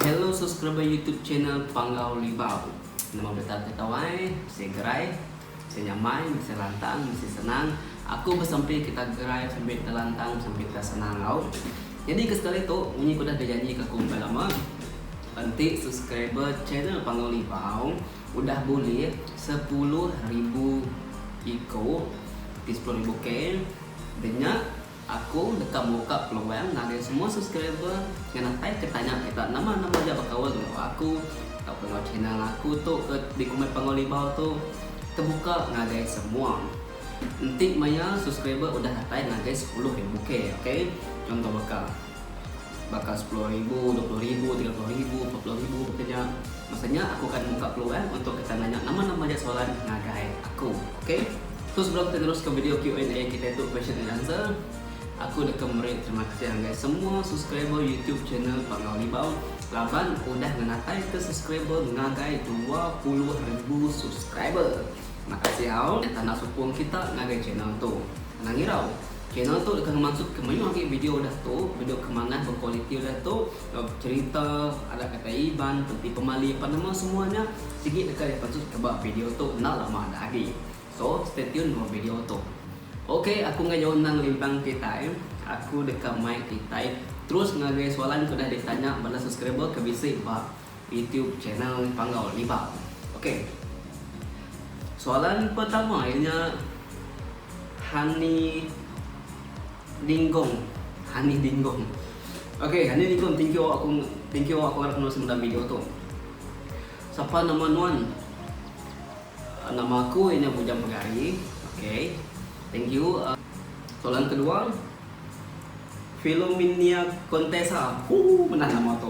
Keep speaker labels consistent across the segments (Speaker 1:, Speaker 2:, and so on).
Speaker 1: Hello subscriber YouTube channel Panggau Libau. Nama betah ke tau ai? Mesti gerai, mesti nyamai, mesti lantang, mesti senang. Aku besempi kita gerai, besempi kita lantang, besempi kita senang tau. Jadi ke sekali tu, munyi ku dah dijanji ke aku bukai lama, enti subscriber channel Panggau Libau, Udah bulih sepuluh ribu iko ti sepuluh ribu K enti nya aku deka muka peluang ngagai semua subscriber ngan apai ke tanya kita nama nama aja bekaul enggau aku tauka enggau channel aku tu ke dikumbai Panggau Libau tu tebuka ngagai semua. Enti maya subscriber udah datai ngagai sepuluh ribu K ok contoh baka. Baka sepuluh ribu, dua puluh ribu, tiga puluh ribu, empat puluh ribu baka nya. Masa nya aku akan muka peluang untuk kita nanya nama-nama aja soalan ngagai aku. Ok. So sebelum kita neruska video Q&A kitai tu question and answer, aku deka meri terima kasih ngagai semua subscriber YouTube channel Panggau Libau laban udah ngenataika subscriber ngagai dua puluh ribu subscriber. Makasih au tanda sukung kita ngagai channel tu. Anang irau. Channel tu deka ngemansut ke mayuh agi video udah tu, video ke manah berkualiti udah tu, cherita, adat kata Iban, penti pemali apan nama semua nya sigi deka dipansut ke ba video tu enda lama dah agi. So, stay tune enggau video tu. Ok, aku enggai jauh endang limpang kitai. Aku deka mai kitai terus ngagai soalan ke udah ditanya bala subscriber ke bisi ba. YouTube channel Panggau Libau. Okey. Soalan pertama iya nya Hani Dinggong. Hani Dinggong. Okey, Hani Dinggong thank you aku thank you aku ngarap nulis dalam video tu. Siapa nama nuan? Ah, nama aku iya nya Bujang Pegari. Okey. Thank you. Uh, soalan kedua, Filuminia Contessa hoo mena nama tu.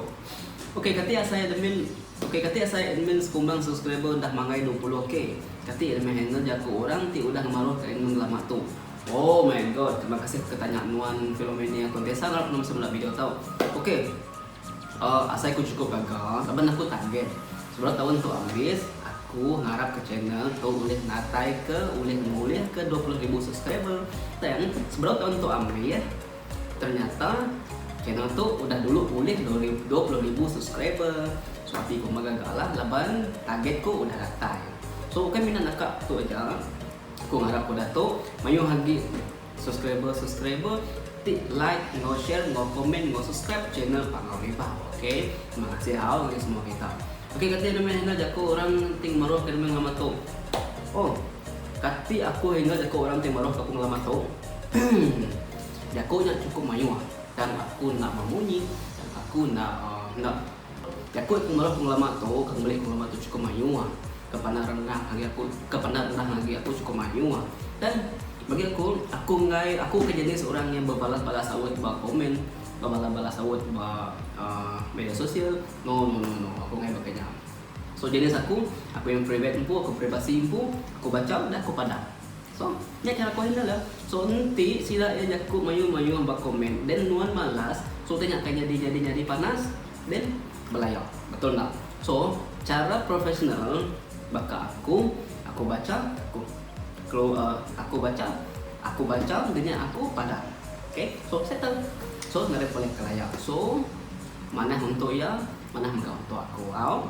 Speaker 1: Ok kati asai admin ok kati asai admin sekumbang subscriber udah manggai dua puluh k kati rmi handle jaku orang ti udah ngemaruh ke admin lama tu oh my god terima kasih ke tanya nuan Filuminia Contessa ngarap nuan semula video tau ok. Ohh asai ku cukup gaga laban aku target sebelum taun tu abis aku ngarap ka channel tu ulih natai ke ulih ngulih ke dua puluh ribu subscriber tang sebelum taun tu abis ternyata channel tu udah dulu ulih dua puluh ribu subscriber so ati ku meh gaga lah laban target ku udah datai so ukai mina naka tu aja aku ngarap ku dato mayuh agi. Subscriber subscriber ti like enggau share enggau komen enggau subscribe channel Panggau Riba ok terima kasih au ngagai semua kita ok kati anu meh enda jaku orang ti ngemeruh ke demi ngelama tu oh kati aku enda jaku orang ti meruh ke aku ngelama tu jaku nya cukup mayuh tang aku enda memunyi tang aku enda enda Jaku ku mara pengelama tu ke ngeli pengelama tu chukup mayuh ah ke pandai rendah agi aku ke pandai rendah agi aku chukup mayuh ah dan bagi aku aku enggai aku ke jenis orang yang bebalas balas saut ba komen bebalas balas saut ba aaa media sosial no no no no aku enggai baka nya so jenis aku aku yang private empu aku privasi empu aku bacham dah aku padah. So nya ke aku handle ya. So enti sila iya jaku mayuh mayuh ba comment then nuan malas so utai nya akan nyadi nyadi nyadi panas then belaya betul enda. So chara professional baka aku aku bacha aku kelu aku bacha aku bacha dah nya aku padah ok so settle so enda ada pulih kelaya so manah untuk iya manah mega untuk aku au.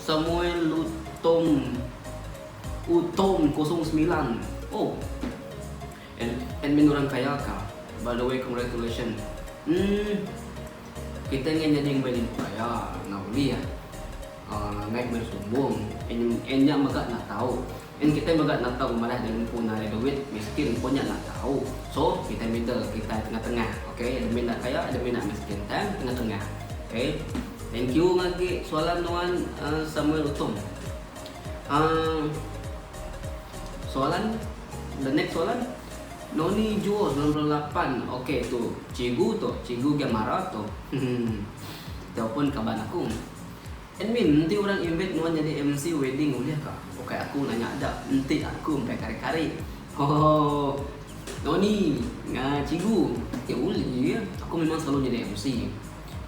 Speaker 1: Samuel Lutong Utong kosong semilan Oh Ad, Admin orang kaya ka By the way congratulations Hmm Kita ingin jadi yang paling kaya Nah boleh ya uh, Naik bersumbung Enya mega nak tahu Nyin kitai mega nentong madah nya empu narik duit miskin pun nya enda tau so kitai middle kitai tengah tengah ok admin enda kaya admin enda miskin time tengah tengah ok thank you ngagi soalan nuan samuel utom uhh soalan the next soalan noni juo sembilan puluh lapan ok tu cigu tu cigu giamara tu hehe tau pun kaban aku. Admin, enti orang invite nuan nyadi MC wedding ulih ka? Ukai aku nanya da, enti aku empai kari-kari. Hohoho. Noni, ngaa cigu, enti ulih aku memang selalu nyadi MC.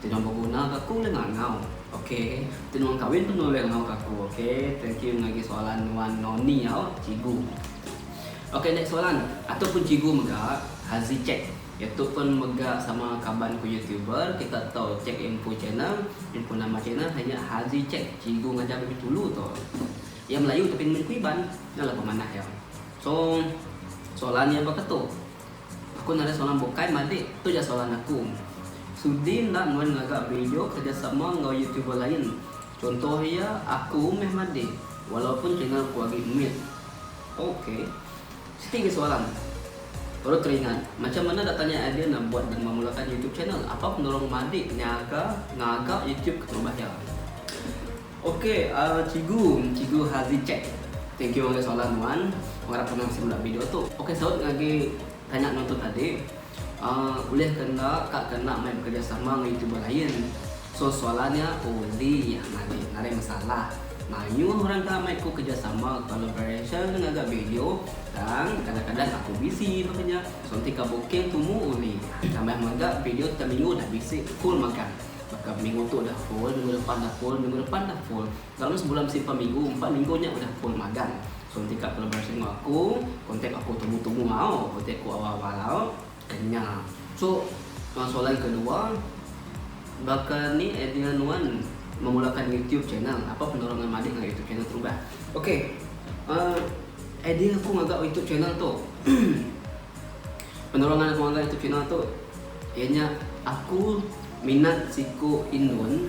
Speaker 1: Enti nuan beguna ka aku ulih ngangau. Ok. Enti nuan kawin pun nuan ulih ngangau ka aku. Ok. Thank you ngagai soalan nuan Noni au cigu. Ok next soalan. Atuk pun cigu mega, Haziq check. Iya tu pun mega sama kaban ku youtuber kita tu check info channel info nama channel hanya Hazi Check Cigu Ngajar Bibit Hulu tu. Iya melayu tapi nemu ku Iban nya lah pemanah iya. So soalan iya baka tu. Aku nadai soalan bukai madik tu ja soalan aku. Sudi enda nuan ngaga video kerejasama enggau youtuber lain contoh iya aku meh madik walaupun channel ku agi mit. Ok. Siti ke seorang baru teringat macam mana datanya idea nak buat dan memulakan YouTube channel. Apa pendorong madik nyaga ngaga YouTube ke terubah iya? Ok ahh cikgu, cikgu Hazi Check. Thank you ngagai soalan nuan. Aku arap nuan bisi meda video tu. Ok saut ngagai tanya nuan tu tadi. Aaa ulih ke enda ka ke enda mai bekerjasama enggau youtuber lain. So soalan nya oli yah ngagai ngarai masalah. Mayuh orang ka mai ku kerjasama, collaboration, ngaga video tang kadang-kadang aku busy baka nya. So enti ka booking tumu oli. Tambah mega video teminggu dah bisi full magang. Baka minggu tu dah full, minggu depan dah full, minggu depan dah full. Selalu sebulan besimpah minggu, empat minggu nya udah full magang. So enti ka collaboration enggau aku, kontak aku tumu-tumu au, kontak aku awal-awal au, kena. So soalan kedua, baka ni idea nuan memulakan YouTube channel? Apa penerongan madik ngagai YouTube channel Terubah? Okey, uhh idea aku ngaga YouTube channel tu, penerongan aku ngaga YouTube channel tu, iya nya aku minat siku indun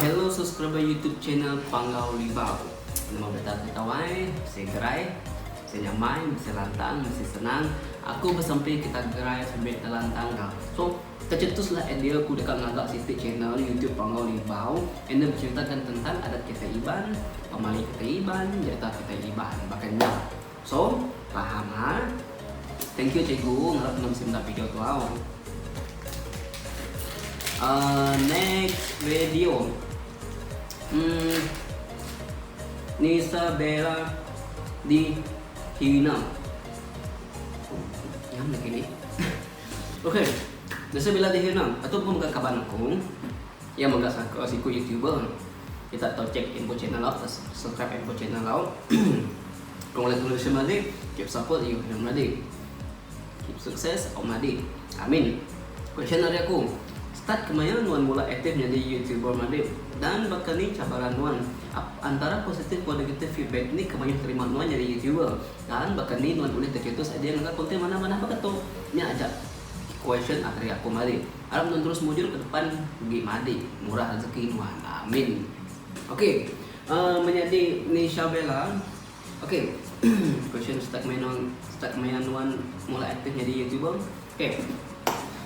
Speaker 1: Hello subscriber YouTube channel Panggau Libau. Nama beta tu tawai, mesti gerai, mesti nyamai, mesti lantang, mesti senang. Aku besempi kita gerai sembi telantang ga. So, Tecetuslah idea aku deka ngaga siti channel YouTube Panggau Libau enda beceritakan tentang adat kitai Iban, pemali kitai Iban, nyerita kitai Iban. Baka nya. So, paham ha. Thank you cikgu, ngarap enda bisi meda video tu au. Uh, next video. Hmm. Nisa Bella di Hina. Yang lagi ni. Ok bisi bila dihir nah atu pun mega kaban aku iya mega saka siku youtuber kita tau check info channel au kita subscribe info channel au congratulations madi keep support you dan madi keep sukses au madi amin question dari aku start kemaya nuan mula aktif nyadi youtuber madi dan baka ni cabaran nuan antara positif enggau negatif feedback ni ke mayuh terima nuan nyadi youtuber Tang baka ni nuan ulih teketus idea ngaga konten manah-manah baka tu? Nya aja question ateri aku mari. Arap nuan terus mujur ke depan ugi madik murah rezeki nuan. Amin. Ok uhh menyadi Nisha Bella ok question start maya nuan start maya nuan mula aktif nyadi youtuber? Ok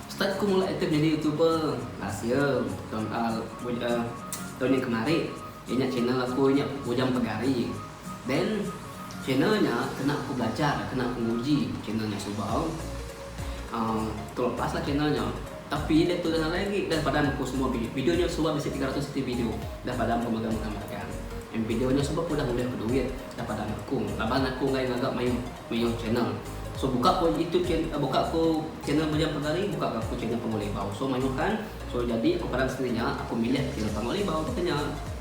Speaker 1: start ku mula aktif nyadi youtuber last year tahun uhh tahun nya kemari inya channel aku nya Ujang Pegari. Ben, channel nya kena aku belajar, kena aku nguji channel nya suba. Aaa terlepas lah channel nya. Tapi dia tu dah nalai agi, dah padam aku semua video. Video nya suba bisi tiga ratus ti video. Dah padam aku mega megang megang. Ngin video nya suba pun dah ngulih aku duit. Dah padam aku. Laban aku enggai ngaga mayuh mayuh channel. So buka ko youtube channel aaa buka ko channel Bujang Pegari, buka ga aku channel Panggau Libau. So mayuh kan. So jadi aku padam sekali nya, aku milih channel Panggau Libau tu ke nya.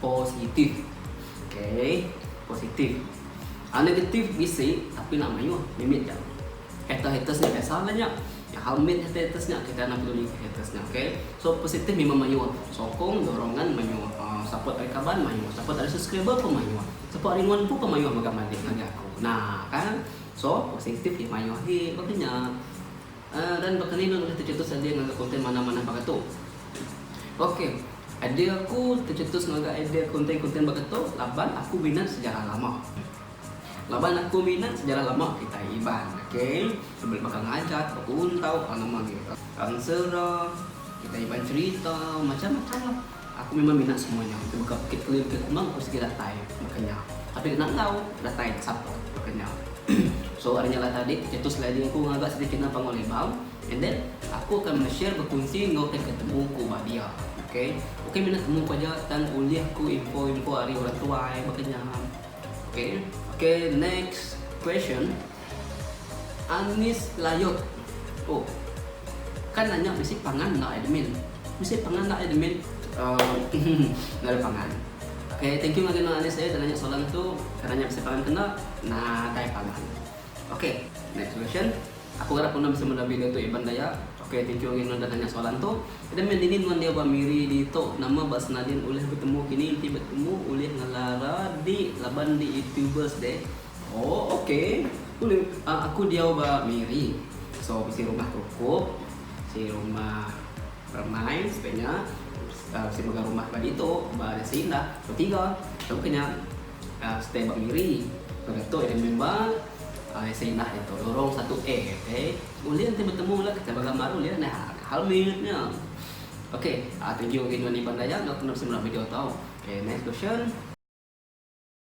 Speaker 1: Positif. Ok. Positif. Hal negatif bisi tapi enda mayuh. Mimit ja. Haters-haters nya biasa aja nya. Nya hal mit haters-haters nya kita enda peduli ke haters nya. Ok. So positif memang mayuh. Sokong, dorongan mayuh. Uh, support ari kaban mayuh. Support ari subscriber pun mayuh. Support ari nuan empu pun mayuh mega madik ngagai aku. Nah kan. So positif mayuh agi. Baka nya. Dan baka ni ulun ulih techetus idea ngaga konten manah-manah baka tu? Ok, idea aku techetus ngaga idea konten-konten baka tu laban aku minat sejarah lama. Laban aku minat sejarah lama kitai Iban. Ok, ulun meh baka ngajat, bekuntau, alah nama agi, Kansera, kitai Iban cherita, macam-macam lah. Aku memang mina semua nya ke baka Bukit Keli Bukit Kumang aku sigi datai baka nya tapi deka nanggau datai ke sapa baka nya so ari nya lah tadi itu sliding aku ngaga sedikit nang panggau Lebau and then aku akan meshare bekunsi enggau ke ketemu ku ba dia ok bukan mina temu ku aja tang ulih ku info info ari orang tuai baka nya ok ok next question. Anis layut oh kan nanya bisi pangan enda admin bisi pangan enda admin uhmm enda ada pangan ok thank you ngagai anis layut nanya soalan tu ke nanya bisi pangan ke enda nadai pangan ok next question aku arap enda bisi meda video tu iban daya ok thank you ngagai nanya soalan tu admin dini nuan dia ba miri ditu nama ba senadin ulih betemu kini enti betemu ulih ngelara di laban di youtubers deh Oh ok buli aku diau ba miri so bisi rumah krukop bisi rumah peremai sebiak nya bisi mega rumah ba ditu ba desa indah betiga tau ke nya stay ba miri baka tu ida main ba desa indah ditu lorong satu a ok ulih enti betemu la kita ba gambar ulih nya hal mit nya ok tuju gin iban daya enda bisi meda video tau ok next question.